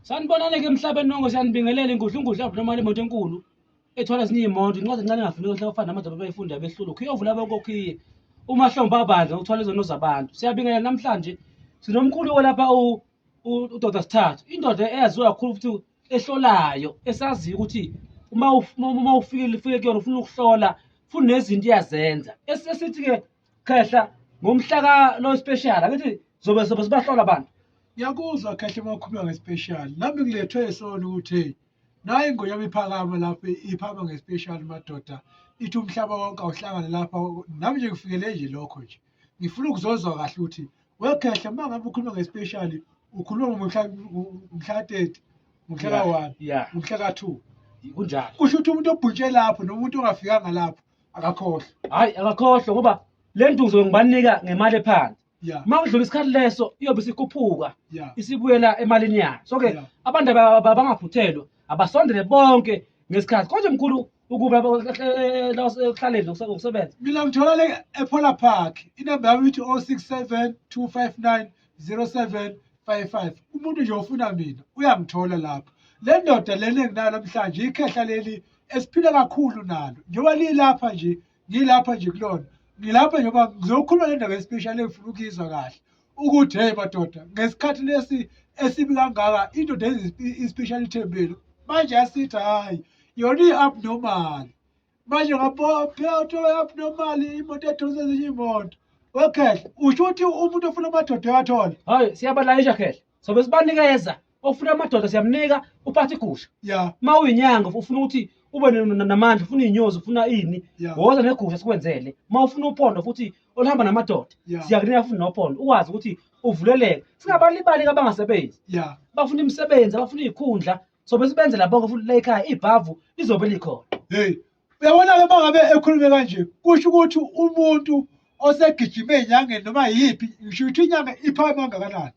sanibonane ke emhlabeni nonke siyanibingelela ingudla ingudla yabona imali imoto enkulu ethwala ezinye iy'moto incwadi encane engafuneki ohlaka ufana namadoda abayifunda behlulu ukhiye ovula abokokhiye umahlombe abandla ukuthwala izono zabantu siyabingelela namhlanje sinomkhulu olapha udoda sithathu indoda eyaziwa kakhulu futhi ehlolayo esaziyo ukuthi uma ufikile ufike kuyona ufuna ukuhlola funa nezinto iyazenza esithi-ke khehla ngomhla ka lo special angithi zobe zobe sibahlola abantu ngiyakuzwa khehla makhuluma ngespecial nami ngilethwe isona ukuthi naye ingonyama iphakama lapho iphama ngespecial madoda ithi umhlaba wonke awuhlangane lapha nami nje ngifikele nje lokho nje ngifuna ukuzozwa kahle ukuthi wekhehla uma ngabe ukhuluma ngespecial ukhuluma ngomhla ngomhla 30 ngomhla ka 1 ngomhla ka 2 kunjalo kusho ukuthi umuntu obhuntshe lapho nomuntu ongafikanga lapho akakhohlwa hayi akakhohlwa ngoba le nduzo ngibanika ngemali ephansi yeah uma kudlula isikhathi leso iyobe isikhuphuka yeah isibuyela emalini yayo so ke Yeah. abantu aba- aba- abangaphuthelwa abasondele bonke ngesikhathi konje mkhulu ukuba ekuhlaleni nokusebenza mina ngithola le epola park inamba yami ithi 067 259 07 55 umuntu nje ofuna mina uyangithola lapho le ndoda lena enginayo namhlanje ikhehla leli esiphila kakhulu nalo njengoba lilapha nje ngilapha nje kulona ngilapha njengoba ngizokhuluma le ndaba especially engifuna ukuyizwa kahle ukuthi hey madoda ngesikhathi lesi esibi kangaka indoda especially ithembele manje yasithi hhayi yona i-abnormal manje ngaphela uthola abnormal imoto edonsa ezinye imoto wekhehla usho ukuthi umuntu ofuna amadoda uyathola hayi siyabalayisha khehla sobe sibanikeza ofuna amadoda siyamnika uphatha igusha ya uma uyinyanga ufuna ukuthi ube namandla ufuna iy'nyozi ufuna ini woza negusha sikwenzele uma ufuna uphondo futhi oluhamba namadoda siyakunika futhi nophondo ukwazi ukuthi uvuleleke singabalibali-ke abangasebenzi bafuna imisebenzi abafuna iy'khundla sobe sibenzela bonke futhi la ekhaya ibhavu lizobe likhona hey uyabona-ke uma ngabe ekhulume kanje kusho ukuthi umuntu osegijime enyangeni noma yiphi ngisho ukuthi inyanga iphakeme kangakanani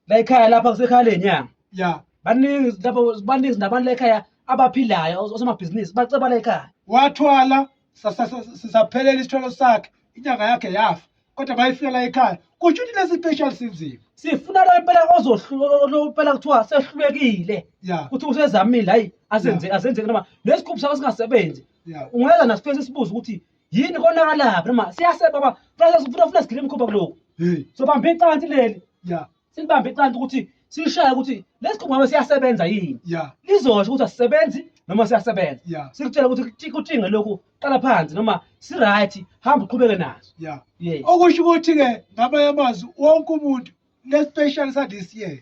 la ekhaya lapha kusekhaya lenyanga ya baningi lapho baningi nabantu la ekhaya abaphilayo os- osomabhizinisi baceba la ekhaya wathwala sa- sa- sa- sa- saphelela isithwalo sakhe inyanga yakhe yafa kodwa bayifika la ekhaya kusho ukuthi lesi special sinzima sifuna lo impela ozohlupela kuthiwa sehlulekile ya ukuthi usezamile hayi asenze asenzeke noma nesikhuphi sakho singasebenzi ya ungeza nasifesi sibuze ukuthi yini konakalaphi noma siyaseba ba funa funa sigile imikhuba kuloko hey sobamba icansi leli ya silibambe iqanda ukuthi silishaye ukuthi lesi qhugwame siyasebenza yini yeah lizosho ukuthi asisebenzi noma siyasebenza yeah sikutshela ukuthi kuti- kutinge lokhu qala phansi noma si-right hamba uqhubeke naso yeah yes okusho ukuthi-ke ngamanye amazwi wonke umuntu le-special sa-this year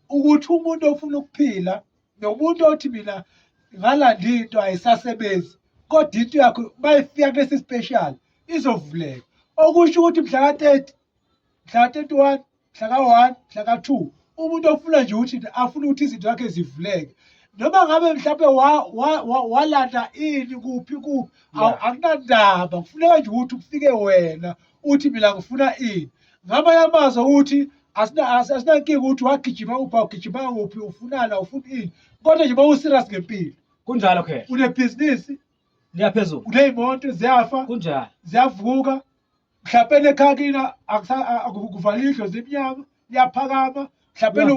ukuthi umuntu ofuna ukuphila nomuntu othi mina ngalanda into ayisasebenzi kodwa into yakho mayifika kulesi special izovuleka okusho ukuthi mhla ka-30 mhla ka-31 mhla ka-one mhla ka-two umuntu ofuna nje ukuthi afuna ukuthi izinto zakhe zivuleke noma ngabe mhlawumbe walanda ini kuphi kuphi akunandaba kufuneka nje ukuthi kufike wena uthi mina ngifuna ini ngamanye amazwi ukuthi asinankinga ukuthi wagijima kuphi awugijima kuphi ufunana ufuna ini kodwa nje uma userious ngempilo kunjalo khe unebhizinisi liyaphezulu uney'moto ziyafa kunjalo ziyavuka mhlawumpeni ekhaya kina akuvala idlo zimnyama liyaphakama mhlawumpeni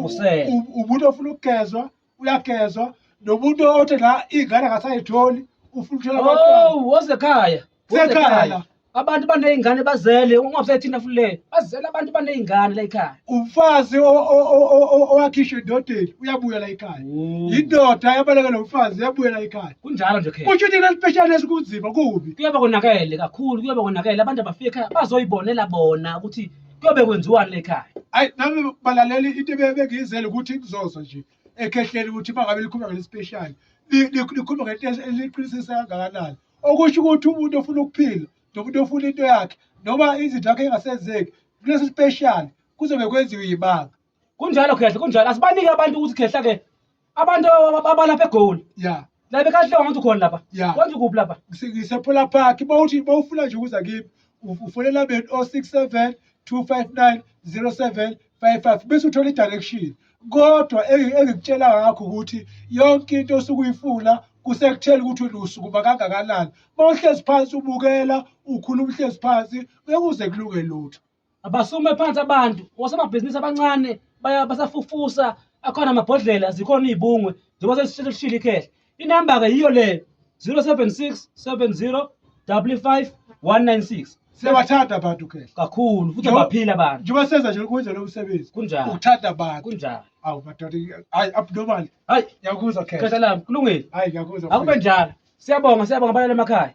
umuntu ofuna ukugezwa uyagezwa nomuntu othi la iy'ngane akasayitholi ufuna uthola oh, wozekhaya sekhaya abantu baney'ngane bazele ungabe sethina futhi leyo bazele abantu baney'ngane la ekhaya umfazi o- o- o- o- o- owakhishwa endodeni uyabuyela ekhaya Oh. yindoda yabaleka nomfazi yabuyela ekhaya kunjalo nje khe kusho ukuthi kuleli pheshana esikunzima kubi kuyobe konakele kakhulu kuyobe konakele abantu abafika ekhaya bazoyibonela bona ukuthi kuyobe kwenziwani lekhaya ayi nami balaleli into ebe- ebengiyizele ukuthi kuzoza nje ekhehleni ukuthi bangabe likhuluma ngelespeshali likhuluma ngento eliqinisisa kangakanani okusho ukuthi umuntu ofuna ukuphila nomuntu ofuna into yakhe noma izinto yakhe engasenzeki kulesi special kuzobe kwenziwe yibanga kunjalo khehla kunjalo asibanike abantu ukuthi khehla ke abantu abalapha egoli ya la bekahle wangathi ukhona lapha Ya. kwenza ukuphi lapha ngisephola park bawuthi bawufuna nje ukuza kimi ufonela beni o-67 259 07 55 bese uthola i-direction kodwa engikutshela ngakho ukuthi yonke into osuke uyifuna kusekuthela ukuthi wena usukuma kangakanani uma uhlezi phansi ubukela ukhuluma uhlezi phansi ngeke uze kulunge lutho abasume phansi abantu osomabhizinisi abancane basafufusa akhona amabhodlela zikhona iy'bungwe njengoba sesishilo ikhehla Inamba-ke yiyo le 076 70 55 196 siyabathanda abantu ke kakhulu futhi abaphila abantu njengoba senza nje ukwenza lo msebenzi kunjani ukuthanda abantu kunjani awu madoda hayi abnormal hayi ngiyakuzwa khehla lami kulungile hayi ngiyakuzwa akube njalo siyabonga siyabonga abalala emakhaya